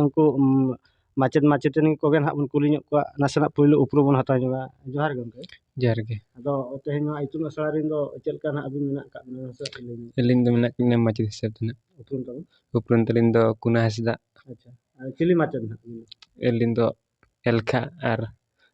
ᱩᱱᱠᱩ ᱢᱟᱪᱮᱫ ᱢᱟᱪᱮᱛᱟᱹᱱᱤ ᱠᱚᱜᱮ ᱱᱟᱦᱟᱜ ᱵᱚᱱ ᱠᱩᱞᱤ ᱧᱚᱜ ᱠᱚᱣᱟ ᱱᱟᱥᱮᱱᱟᱜ ᱯᱳᱭᱞᱳ ᱩᱯᱨᱩᱢ ᱵᱚᱱ ᱦᱟᱛᱟᱣ ᱧᱚᱜᱟ ᱡᱚᱦᱟᱨ ᱜᱮ ᱜᱚᱢᱠᱮ ᱡᱚᱦᱟᱨ ᱜᱮ ᱟᱫᱚ ᱛᱮᱦᱮᱧ ᱱᱚᱣᱟ ᱤᱛᱩᱱ ᱟᱥᱲᱟ ᱨᱮᱱ ᱫᱚ ᱪᱮᱫ ᱞᱮᱠᱟ ᱱᱟᱦᱟᱜ ᱟᱹᱵᱤᱱ ᱢᱮᱱᱟᱜ ᱟᱠᱟᱫ ᱵᱤᱱᱟ ᱢᱟᱥᱮ ᱞᱟᱹᱭ ᱧᱚᱜ ᱟᱹᱞᱤᱧ ᱫᱚ ᱢᱮᱱᱟᱜ ᱞᱤᱧᱟ ᱢᱟᱪᱮᱫ ᱦᱤᱥᱟᱹᱵ ᱛᱮ ᱱᱟᱦᱟᱜ ᱩᱯᱨᱩᱢ ᱛᱟᱵᱚᱱ ᱩᱯᱨᱩᱢ ᱛᱟᱹᱞᱤᱧ ᱫᱚ ᱠᱩᱱᱟ ᱦᱟᱸᱥᱫᱟ ᱟᱪᱪᱷᱟ ᱟᱨ ᱪᱤᱞᱤ ᱢᱟᱪᱮᱫ ᱱᱟᱦᱟᱜ ᱟᱹᱞᱤᱧ ᱫᱚ ᱮᱞᱠᱷᱟ ᱟᱨ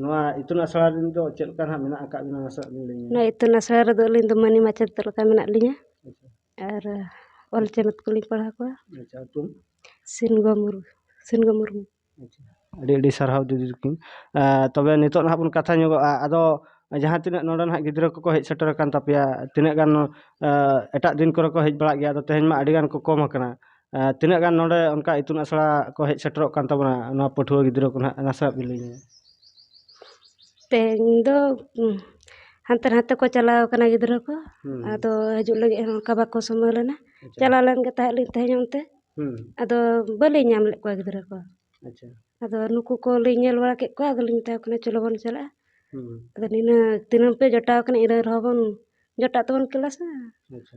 ᱱᱚᱣᱟ ᱤᱛᱩᱱ ᱟᱥᱲᱟ ᱨᱮᱱ ᱫᱚ ᱪᱮᱫ ᱞᱮᱠᱟ ᱦᱟᱸᱜ ᱢᱮᱱᱟᱜ ᱟᱠᱟᱫ ᱵᱮᱱᱟ ᱱᱟᱥᱮᱭᱟᱜ ᱵᱮᱱ ᱞᱟᱹᱭ ᱧᱚᱜᱟ ᱱᱚᱣᱟ ᱤᱛᱩᱱ ᱟᱥᱲᱟ ᱨᱮᱫᱚ ᱟᱹᱞᱤᱧ ᱫᱚ ᱢᱟᱹᱱᱤ ᱢᱟᱪᱮᱫ ᱞᱮᱠᱟ ᱢᱮᱱᱟᱜ ᱞᱤᱧᱟᱹ ᱟᱨ ᱚᱞ ᱪᱮᱢᱮᱫ ᱠᱚᱞᱤᱧ ᱯᱟᱲᱦᱟᱣ ᱠᱚᱣᱟ ᱟᱪᱪᱷᱟ ᱧᱩᱛᱩᱢ ᱥᱤᱱᱜᱳ ᱢᱩᱨᱢᱩ ᱥᱤᱱᱜᱳ ᱢᱩᱨᱢᱩ ᱟᱪᱪᱷᱟ ᱟᱹᱰᱤ ᱟᱹᱰᱤ ᱥᱟᱨᱦᱟᱣ ᱫᱤᱫᱤ ᱛᱟᱹᱠᱤᱱ ᱛᱚᱵᱮ ᱱᱤᱛᱚᱜ ᱱᱟᱦᱟᱜ ᱵᱚᱱ ᱠᱟᱛᱷᱟ ᱧᱚᱜᱚᱜᱼᱟ ᱟᱫᱚ ᱡᱟᱦᱟᱸ ᱛᱤᱱᱟᱹᱜ ᱱᱚᱰᱮ ᱱᱟᱦᱟᱜ ᱜᱤᱫᱽᱨᱟᱹ ᱠᱚᱠᱚ ᱦᱮᱡ ᱥᱮᱴᱮᱨ ᱟᱠᱟᱱ ᱛᱟᱯᱮᱭᱟ ᱛᱤᱱᱟᱹᱜ ᱜᱟᱱ ᱮᱴᱟᱜ ᱫᱤᱱ ᱠᱚᱨᱮ ᱠᱚ ᱦᱮᱡ ᱵᱟᱲᱟᱜ ᱜᱮᱭᱟ ᱟᱫᱚ ᱛᱮᱦᱮᱧ ᱢᱟ ᱟᱹᱰᱤ ᱜᱟᱱ ᱠᱚ ᱠᱚᱢ ᱟᱠᱟᱱᱟ ᱛᱤᱱᱟᱹᱜ ᱜᱟᱱ ᱱᱚᱰᱮ ᱚᱱᱠᱟ ᱤᱛᱩᱱ ᱟᱥᱲᱟ ᱠᱚ ᱦᱮᱡ ᱥᱮᱴᱮᱨᱚᱜ ᱠᱟᱱ ᱛᱟᱵᱚᱱᱟ ᱱᱚᱣᱟ ᱯᱟᱹᱴᱷᱩᱣᱟᱹ ᱜᱤᱫᱽᱨᱟᱹ ᱠᱚ ᱱᱟᱦᱟᱜ ᱱᱟᱥᱮᱭᱟᱜ ᱵᱤᱱ ᱞᱟᱹᱭ ᱧᱚᱜᱟ ᱛᱮᱦᱮᱧ ᱫᱚ ᱦᱟᱱᱛᱮ ᱱᱟᱛᱮ ᱠᱚ ᱪᱟᱞᱟᱣ ᱠᱟᱱᱟ ᱜᱤᱫᱽᱨᱟᱹ ᱠᱚ ᱟᱫᱚ ᱦᱤᱡᱩᱜ ᱞᱟᱹᱜᱤᱫ ᱦᱚᱸ ᱚᱱᱠᱟ ᱵᱟᱠᱚ ᱥᱚᱢᱚᱭ ᱞᱮᱱᱟ ᱪᱟᱞᱟᱣ ᱞᱮᱱ ᱜᱮ ᱛᱟᱦᱮᱸᱫ ᱞᱤᱧ ᱛᱮᱦᱮᱧ ᱚᱱᱛᱮ ᱟᱫᱚ ᱵᱟᱹᱞᱤᱧ ᱧᱟᱢ ᱞᱮᱫ ᱠᱚᱣᱟ ᱜᱤᱫᱽᱨᱟᱹ ᱠᱚ ᱟᱪᱪᱷᱟ ᱟᱫᱚ ᱱᱩᱠᱩ ᱠᱚᱞᱤᱧ ᱧᱮᱞ ᱵᱟᱲᱟ ᱠᱮᱫ ᱠᱚᱣᱟ ᱟᱫᱚᱞᱤᱧ ᱢᱮᱛᱟ ᱠᱚ ᱠᱟᱱᱟ ᱪᱚᱞᱚ ᱵᱚᱱ ᱪᱟᱞᱟᱜᱼᱟ ᱟᱫᱚ ᱱᱤᱱᱟᱹᱜ ᱫᱤᱱᱟᱹᱢ ᱯᱮ ᱡᱚᱴᱟᱣ ᱠᱟᱱᱟ ᱤᱱᱟᱹ ᱨᱮᱦᱚᱸ ᱵᱚᱱ ᱡᱚᱴᱟᱜ ᱛᱮᱵᱚᱱ ᱠᱞᱟᱥᱟ ᱟᱪᱪᱷᱟ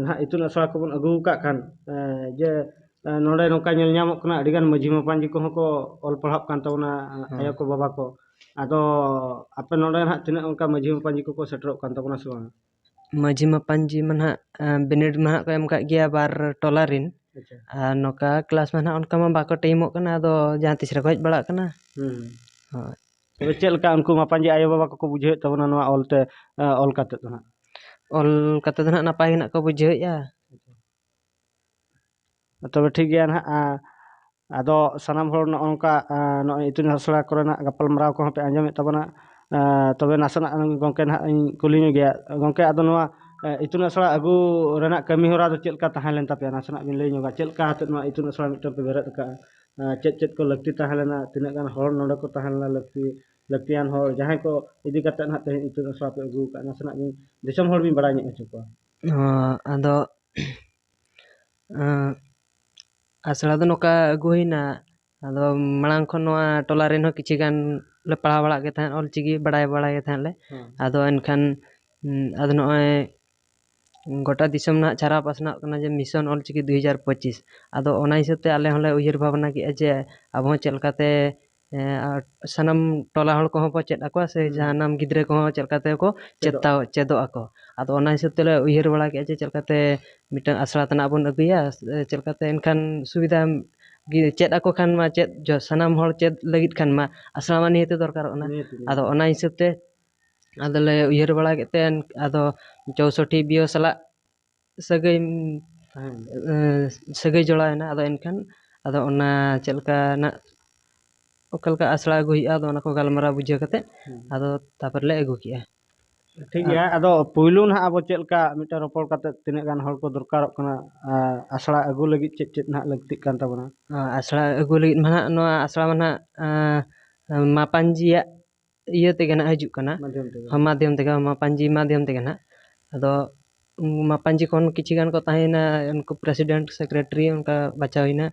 ᱱᱟᱦᱟᱜ ᱤᱛᱩᱱ ᱟᱥᱲᱟ ᱠᱚᱵᱚᱱ ᱟᱹᱜᱩ ᱟᱠᱟᱫ ᱠᱷᱟᱱ ᱡᱮ ᱱᱚᱰᱮ ᱱᱚᱝᱠᱟ ᱧᱮᱞ ᱧᱟᱢᱚᱜ ᱠᱟᱱᱟ ᱟᱹᱰᱤ ᱜᱟᱱ ᱢᱟᱹᱡᱷᱤ ᱢᱟᱯᱟᱡᱤ ᱠᱚᱦᱚᱸ ᱠᱚ ᱚᱞ ᱯᱟᱲᱦᱟᱜ ᱠᱟᱱ ᱛᱟᱵᱚᱱᱟ ᱟᱭᱳ ᱠᱚ ᱵᱟᱵᱟ ᱠᱚ ᱟᱫᱚ ᱟᱯᱮ ᱱᱚᱰᱮ ᱱᱟᱦᱟᱜ ᱛᱤᱱᱟᱹᱜ ᱚᱱᱠᱟ ᱢᱟᱹᱡᱷᱤ ᱢᱟᱯᱟᱡᱤ ᱠᱚᱠᱚ ᱥᱮᱴᱮᱨᱚᱜ ᱠᱟᱱ ᱛᱟᱵᱚᱱᱟ ᱥᱮ ᱵᱟᱝ ᱢᱟᱹᱡᱷᱤ ᱢᱟᱯᱟᱡᱤ ᱢᱟ ᱱᱟᱦᱟᱜ ᱵᱤᱱᱤᱰ ᱢᱟ ᱱᱟᱦᱟᱜ ᱠᱚ ᱮᱢ ᱟᱠᱟᱫ ᱜᱮᱭᱟ ᱵᱟᱨ ᱴᱚᱞᱟ ᱨᱮᱱ ᱟᱪᱪᱷᱟ ᱟᱨ ᱱᱚᱝᱠᱟ ᱠᱞᱟᱥ ᱢᱟ ᱱᱟᱦᱟᱜ ᱚᱱᱠᱟ ᱢᱟ ᱵᱟᱠᱚ ᱴᱟᱭᱤᱢᱚᱜ ᱠᱟᱱᱟ ᱟᱫᱚ ᱡᱟᱦᱟᱸ ᱛᱤᱥ ᱨᱮᱠᱚ ᱦᱮᱡ ᱵᱟᱲᱟᱜ ᱠᱟᱱᱟ ᱦᱳᱭ ᱛᱚᱵᱮ ᱪᱮᱫ ᱞᱮᱠᱟ ᱩᱱᱠᱩ ᱢᱟ ᱯᱟᱸᱡᱮ ᱟᱭᱳ ᱵᱟᱵᱟ ᱠᱚᱠᱚ ᱵᱩᱡᱷᱟᱹᱣᱮᱫ ᱛᱟᱵᱚᱱᱟ ᱱᱚᱣᱟ ᱚᱞ ᱛᱮ ᱚᱞ ᱠᱟᱛᱮᱫ ᱫᱚ ᱦᱟᱸᱜ ᱚᱞ ᱠᱟᱛᱮᱫ ᱫᱚ ᱦᱟᱸᱜ ᱱᱟᱯᱟᱭ ᱜᱮ ᱦᱟᱸᱜ ᱠᱚ ᱵᱩᱡᱷᱟᱹᱣᱮᱫᱼᱟ ᱛᱚᱵᱮ ᱴᱷᱤᱠ ᱜᱮᱭᱟ ᱦᱟᱸᱜ ᱟᱫᱚ ᱥᱟᱱᱟᱢ ᱦᱚᱲ ᱱᱚᱜᱼᱚ ᱱᱚᱝᱠᱟ ᱱᱚᱜᱼᱚᱭ ᱤᱛᱩᱱ ᱟᱥᱲᱟ ᱠᱚᱨᱮᱱᱟᱜ ᱜᱟᱯᱟᱞᱢᱟᱨᱟᱣ ᱠᱚᱦᱚᱸ ᱯᱮ ᱟᱸᱡᱚᱢᱮᱫ ᱛᱟᱵᱚᱱᱟ ᱛᱚᱵᱮ ᱱᱟᱥᱮᱱᱟᱜ ᱜᱚᱢᱠᱮ ᱦᱟᱸᱜ ᱤᱧ ᱠᱩᱞᱤ ᱧᱚᱜᱮᱭᱟ ᱜᱚᱢᱠᱮ ᱟᱫᱚ ᱱᱚᱣᱟ ᱤᱛᱩᱱ ᱟᱥᱲᱟ ᱟᱹᱜᱩ ᱨᱮᱱᱟᱜ ᱠᱟᱹᱢᱤ ᱦᱚᱨᱟ ᱫᱚ ᱪᱮᱫ ᱞᱮᱠᱟ ᱛᱟᱦᱮᱸ ᱞᱮᱱ ᱛᱟᱯᱮᱭᱟ ᱱᱟᱥᱮᱱᱟᱜ ᱵᱤᱱ ᱞᱟᱹᱭ ᱧᱚᱜᱟ ᱪᱮᱫ ᱞᱮᱠᱟ ᱠᱟᱛᱮᱫ ᱱᱚᱣᱟ ᱤᱛᱩᱱ ᱟᱥᱲᱟ ᱢᱤᱫᱴᱟᱝ ᱯᱮ ᱵᱮᱨᱮᱫ ᱟᱠᱟᱫᱼᱟ ᱪᱮᱫ ᱪᱮᱫ ᱠᱚ ᱞᱟᱹᱠᱛᱤ ᱛᱟᱦᱮᱸ ᱞᱮᱱᱟ ᱛᱤᱱᱟᱹᱜ ᱜᱟᱱ ᱦᱚᱲ ᱱᱚᱰᱮ ᱠᱚ ᱛᱟᱦᱮᱸ ᱞᱮᱱᱟ ᱞᱟᱹᱠᱛᱤ ᱞᱟᱹᱠᱛᱤᱭᱟᱱ ᱦᱚᱲ ᱡᱟᱦᱟᱸᱭ ᱠᱚ ᱤᱫᱤ ᱠᱟᱛᱮ ᱦᱟᱸᱜ ᱛᱮᱦᱮᱧ ᱤᱛᱩᱱ ᱟᱥᱲᱟ ᱯᱮ ᱟᱹᱜᱩ ᱠᱟᱜᱼᱟ ᱱᱟᱥᱮᱱᱟᱜ ᱜᱮ ᱫᱤᱥᱚᱢ ᱦᱚᱲ ᱵᱤᱱ ᱵᱟᱲᱟᱭ ᱧᱚᱜ ᱦᱚᱪᱚ ᱠᱚᱣᱟ ᱦᱚᱸ ᱟᱫᱚ ᱟᱥᱲᱟ ᱫᱚ ᱱᱚᱝᱠᱟ ᱟᱹᱜᱩ ᱦᱩᱭᱱᱟ ᱟᱫᱚ ᱢᱟᱲᱟᱝ ᱠᱷᱚᱱ ᱱᱚᱣᱟ ᱴᱚᱞᱟ ᱨᱮᱱ ᱦᱚᱸ ᱠᱤᱪᱷᱩ ᱜᱟᱱ ᱞᱮ ᱯᱟᱲᱦᱟᱣ ᱵᱟᱲᱟᱜ ᱜᱮ ᱛᱟᱦᱮᱸᱫ ᱚᱞ ᱪᱤᱠᱤ ᱵᱟᱲᱟᱭ ᱵᱟᱲᱟᱭ ᱜᱮ ᱛᱟᱦᱮᱸᱫ ᱞᱮ ᱟᱫᱚ ᱮᱱᱠᱷᱟᱱ ᱟᱫᱚ ᱱᱚᱜᱼᱚᱸᱭ ᱜᱚᱴᱟ ᱫᱤᱥᱚᱢ ᱱᱟᱦᱟᱜ ᱪᱷᱟᱨᱟᱣ ᱯᱟᱥᱱᱟᱜ ᱠᱟᱱᱟ ᱡᱮ ᱢᱤᱥᱚᱱ ᱚᱞ ᱪᱤᱠᱤ ᱫᱩᱭ ᱦᱟᱡᱟᱨ ᱯᱚᱸᱪᱤᱥ ᱟᱫᱚ ᱚᱱᱟ ᱦᱤᱥᱟᱹᱵᱽ ᱛᱮ ᱟᱞᱮ ᱦᱚᱸᱞᱮ ᱩᱭᱦᱟᱹᱨ ᱵᱷᱟᱵᱽᱱᱟ ᱠᱮᱫᱼᱟ ᱡᱮ ᱟᱵᱚ ᱦᱚᱸ ᱪᱮᱫ ᱞᱮᱠᱟᱛᱮ ᱥᱟᱱᱟᱢ ᱴᱚᱞᱟ ᱦᱚᱲ ᱠᱚᱦᱚᱸ ᱵᱚ ᱪᱮᱫ ᱟᱠᱚᱣᱟ ᱥᱮ ᱡᱟᱱᱟᱢ ᱜᱤᱫᱽᱨᱟᱹ ᱠᱚᱦᱚᱸ ᱪᱮᱫ ᱞᱮᱠᱟ ᱛᱮᱠᱚ ᱪᱮᱫᱟ ᱪᱮᱫᱚᱜ ᱟᱠᱚ ᱟᱫᱚ ᱚᱱᱟ ᱦᱤᱥᱟᱹᱵᱽ ᱛᱮᱞᱮ ᱩᱭᱦᱟᱹᱨ ᱵᱟᱲᱟ ᱠᱮᱫᱼᱟ ᱡᱮ ᱪᱮᱫ ᱞᱮᱠᱟᱛᱮ ᱢᱤᱫᱴᱟᱱ ᱟᱥᱲᱟ ᱛᱟᱱᱟᱜ ᱵᱚᱱ ᱟᱹᱜᱩᱭᱟ ᱪᱮᱫ ᱞᱮᱠᱟᱛᱮ ᱮᱱᱠᱷᱟᱱ ᱥᱩᱵᱤᱫᱷᱟ ᱜᱮ ᱪᱮᱫ ᱟᱠᱚ ᱠᱷᱟᱱ ᱢᱟ ᱪᱮᱫ ᱥᱟᱱᱟᱢ ᱦᱚᱲ ᱪᱮᱫ ᱞᱟᱹᱜᱤᱫ ᱠᱷᱟᱱ ᱢᱟ ᱟᱥᱲᱟ ᱢᱟ ᱱᱤᱦᱟᱹᱛ ᱫᱚᱨᱠᱟᱨᱚᱜ ᱠᱟᱱᱟ ᱟᱫᱚ ᱚᱱᱟ ᱦᱤᱥᱟᱹᱵᱽ ᱛᱮ ᱟᱫᱚᱞᱮ ᱩᱭᱦᱟᱹᱨ ᱵᱟᱲᱟ ᱠᱮᱫ ᱛᱮ ᱟᱫᱚ ᱪᱳᱣᱥᱚᱴᱴᱤ ᱵᱤᱭᱳ ᱥᱟᱞᱟᱜ ᱥᱟᱹᱜᱟᱹᱭ ᱥᱟᱹᱜᱟᱹᱭ ᱡᱚᱲᱟᱣᱮᱱᱟ ᱟᱫᱚ ᱮᱱᱠᱷᱟᱱ ᱟᱫᱚ ᱚᱱᱟ ᱪᱮᱫ ᱞᱮᱠᱟ ᱱᱟᱜ ᱚᱠᱟ ᱞᱮᱠᱟ ᱟᱥᱲᱟ ᱟᱹᱜᱩᱭ ᱦᱩᱭᱩᱜᱼᱟ ᱟᱫᱚ ᱚᱱᱟ ᱠᱚ ᱜᱟᱞᱢᱟᱨᱟᱣ ᱵᱩᱡᱷᱟᱹᱣ ᱠᱟᱛᱮ ᱟᱫᱚ ᱛᱟᱯᱚᱨᱮ ᱞᱮ ᱟᱹᱜᱩ ᱠᱮᱜᱼᱟ ᱴᱷᱤᱠ ᱜᱮᱭᱟ ᱟᱫᱚ ᱯᱩᱭᱞᱩ ᱱᱟᱜ ᱟᱵᱚ ᱪᱮᱫ ᱞᱮᱠᱟ ᱢᱤᱫᱴᱮᱱ ᱨᱚᱯᱚᱲ ᱠᱟᱛᱮ ᱛᱤᱱᱟᱹᱜ ᱜᱟᱱ ᱦᱚᱲ ᱠᱚ ᱫᱚᱨᱠᱟᱨᱚᱜ ᱠᱟᱱᱟ ᱟᱨ ᱟᱥᱲᱟ ᱟᱹᱜᱩ ᱞᱟᱹᱜᱤᱫ ᱪᱮᱫ ᱪᱮᱫ ᱱᱟᱜ ᱞᱟᱹᱠᱛᱤᱜ ᱠᱟᱱ ᱛᱟᱵᱚᱱᱟ ᱟᱥᱲᱟ ᱟᱹᱜᱩ ᱞᱟᱹᱜᱤᱫ ᱢᱟ ᱱᱟᱜ ᱱᱚᱣᱟ ᱟᱥᱲᱟ ᱢᱟ ᱱᱟᱜ ᱢᱟᱯᱟᱡᱤᱭᱟᱜ ᱤᱭᱟᱹ ᱛᱮᱜᱮ ᱱᱟᱦᱟᱜ ᱦᱤᱡᱩᱜ ᱠᱟᱱᱟ ᱢᱟᱫᱽᱫᱷᱚᱢ ᱛᱮᱜᱮ ᱢᱟᱯᱟᱧᱡᱤ ᱢᱟᱫᱽᱫᱷᱚᱢ ᱛᱮᱜᱮ ᱱᱟᱦᱟᱜ ᱟᱫᱚ ᱢᱟᱯᱟᱧᱡᱤ ᱠᱷᱚᱱ ᱠᱤᱪᱷᱩ ᱜᱟᱱ ᱠᱚ ᱛᱟᱦᱮᱸᱭᱮᱱᱟ ᱩᱱᱠᱩ ᱯᱨᱮᱥᱤᱰᱮᱱᱴ ᱥᱮᱠᱨᱮᱴᱟᱨᱤ ᱚᱱᱠᱟ ᱵᱟᱪᱷᱟᱣ ᱦᱩᱭᱮᱱᱟ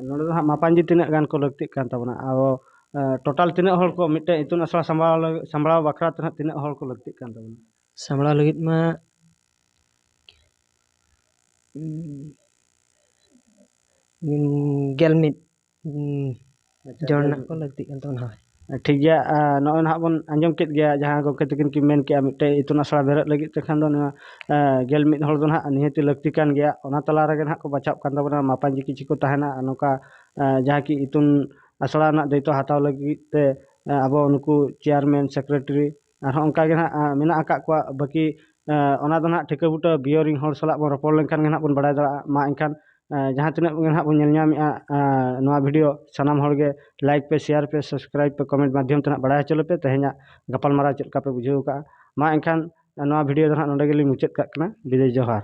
ᱱᱚᱰᱮ ᱫᱚ ᱦᱟᱸᱜ ᱢᱟᱯᱟᱧᱡᱤ ᱛᱤᱱᱟᱹᱜ ᱜᱟᱱ ᱠᱚ ᱞᱟᱹᱠᱛᱤᱜ ᱠᱟᱱ ᱛᱟᱵᱚᱱᱟ ᱟᱵᱚ ᱴᱳᱴᱟᱞ ᱛᱤᱱᱟᱹᱜ ᱦᱚᱲ ᱠᱚ ᱢᱤᱫᱴᱮᱱ ᱤᱛᱩᱱ ᱟᱥᱲᱟ ᱥᱟᱢᱵᱲᱟᱣ ᱞᱟᱹᱜᱤᱫ ᱥᱟᱢᱵᱲᱟᱣ ᱵᱟᱠᱷᱨᱟ ᱛᱮ ᱦᱟᱸᱜ ᱛᱤᱱᱟᱹᱜ ᱦᱚᱲ ᱠᱚ ᱞᱟᱹᱠᱛᱤᱜ ᱠᱟᱱ ᱛᱟᱵᱚᱱᱟ ᱥᱟᱢᱵᱲᱟᱣ ᱞᱟᱹᱜᱤᱫ ᱢᱟ ᱜᱮᱞ ᱢᱤᱫ ᱡᱚᱲ ᱨᱮᱱᱟᱜ ᱠᱚ ᱞᱟᱹᱠᱛᱤᱜ ᱠᱟᱱ ᱛᱟᱵᱚᱱᱟ ᱦᱳᱭ ᱴᱷᱤᱠ ᱜᱮᱭᱟ ᱱᱚᱜᱼᱚᱭ ᱱᱟᱦᱟᱜ ᱵᱚᱱ ᱟᱸᱡᱚᱢ ᱠᱮᱫ ᱜᱮᱭᱟ ᱡᱟᱦᱟᱸ ᱜᱚᱢᱠᱮ ᱛᱟᱹᱠᱤᱱ ᱠᱤᱱ ᱢᱮᱱ ᱠᱮᱜᱼᱟ ᱢᱤᱫᱴᱮᱱ ᱤᱛᱩᱱ ᱟᱥᱲᱟ ᱵᱮᱨᱮᱫ ᱞᱟᱹᱜᱤᱫ ᱛᱮᱠᱷᱟᱱ ᱫᱚ ᱱᱚᱣᱟ ᱜᱮᱞ ᱢᱤᱫ ᱦᱚᱲ ᱫᱚ ᱱᱟᱦᱟᱜ ᱱᱤᱦᱟᱹᱛᱤ ᱞᱟᱹᱠᱛᱤ ᱠᱟᱱ ᱜᱮᱭᱟ ᱚᱱᱟ ᱛᱟᱞᱟ ᱨᱮᱜᱮ ᱱᱟᱦᱟᱜ ᱠᱚ ᱵᱟᱪᱷᱟᱣᱚᱜ ᱠᱟᱱ ᱛᱟᱵᱚᱱᱟ ᱢᱟᱯᱟᱡᱤ ᱠᱤᱪᱷᱩ ᱠᱚ ᱛᱟᱦᱮᱱᱟ ᱟᱨ ᱱᱚᱝᱠᱟ ᱡᱟᱦᱟᱸ ᱠᱤ ᱤᱛᱩᱱ ᱟᱥᱲᱟ ᱨᱮᱱᱟᱜ ᱫᱟᱹᱭᱤᱛᱛᱚ ᱦᱟᱛᱟᱣ ᱞᱟᱹᱜᱤᱫ ᱛᱮ ᱟᱵᱚ ᱱᱩᱠᱩ ᱪᱮᱭᱟᱨᱢᱮᱱ ᱥᱮᱠᱨᱮᱴᱟᱨᱤ ᱟᱨᱦᱚᱸ ᱚᱱᱠᱟ ᱜᱮ ᱱᱟᱦᱟᱜ ᱢᱮᱱᱟᱜ ᱟᱠᱟᱫ ᱠᱚᱣᱟ ᱵᱟᱹᱠᱤ ᱚᱱᱟ ᱫᱚ ᱱᱟᱦᱟᱜ ᱴᱷᱤᱠᱟᱹ ᱵᱩᱴᱟᱹ ᱵᱤᱭᱳ ᱨᱮᱱ ᱦᱚᱲ ᱥᱟᱞᱟᱜ ᱵᱚᱱ ᱨᱚᱯᱚᱲ ᱞᱮᱱᱠᱷᱟᱱ ᱜᱮ ᱱᱟᱦᱟᱜ ᱵᱚᱱ ᱵᱟᱲᱟᱭ ᱫᱟᱲᱮᱭᱟᱜᱼᱟ ᱢᱟ ᱮᱱᱠᱷᱟᱱ ᱡᱟᱦᱟᱸ ᱛᱤᱱᱟᱹᱜ ᱜᱮ ᱱᱟᱦᱟᱜ ᱵᱚᱱ ᱧᱮᱞ ᱧᱟᱢᱮᱜᱼᱟ ᱱᱚᱣᱟ ᱵᱷᱤᱰᱭᱳ ᱥᱟᱱᱟᱢ ᱦᱚᱲ ᱜᱮ ᱞᱟᱭᱤᱠ ᱯᱮ ᱥᱮᱭᱟᱨ ᱯᱮ ᱥᱟᱵᱥᱠᱨᱟᱭᱤᱵᱽ ᱯᱮ ᱠᱚᱢᱮᱱᱴ ᱢᱟᱫᱽᱫᱷᱚᱢ ᱛᱮ ᱱᱟᱦᱟᱜ ᱵᱟᱲᱟᱭ ᱦᱚᱪᱚ ᱞᱮᱯᱮ ᱛᱮᱦᱮᱧᱟᱜ ᱜᱟᱯᱟᱞᱢᱟᱨᱟᱣ ᱪᱮᱫ ᱞᱮᱠᱟ ᱯᱮ ᱵᱩᱡᱷᱟᱹᱣ ᱟᱠᱟᱫᱼᱟ ᱢᱟ ᱮᱱᱠᱷᱟᱱ ᱱᱚᱣᱟ ᱵᱷᱤᱰᱭᱳ ᱫᱚ ᱱᱟᱦᱟᱜ ᱱᱚᱰᱮ ᱜᱮᱞᱤᱧ ᱢᱩᱪᱟᱹᱫ ᱠᱟᱜ ᱠᱟᱱᱟ ᱵᱤᱫᱟᱹᱭ ᱡᱚᱦᱟᱨ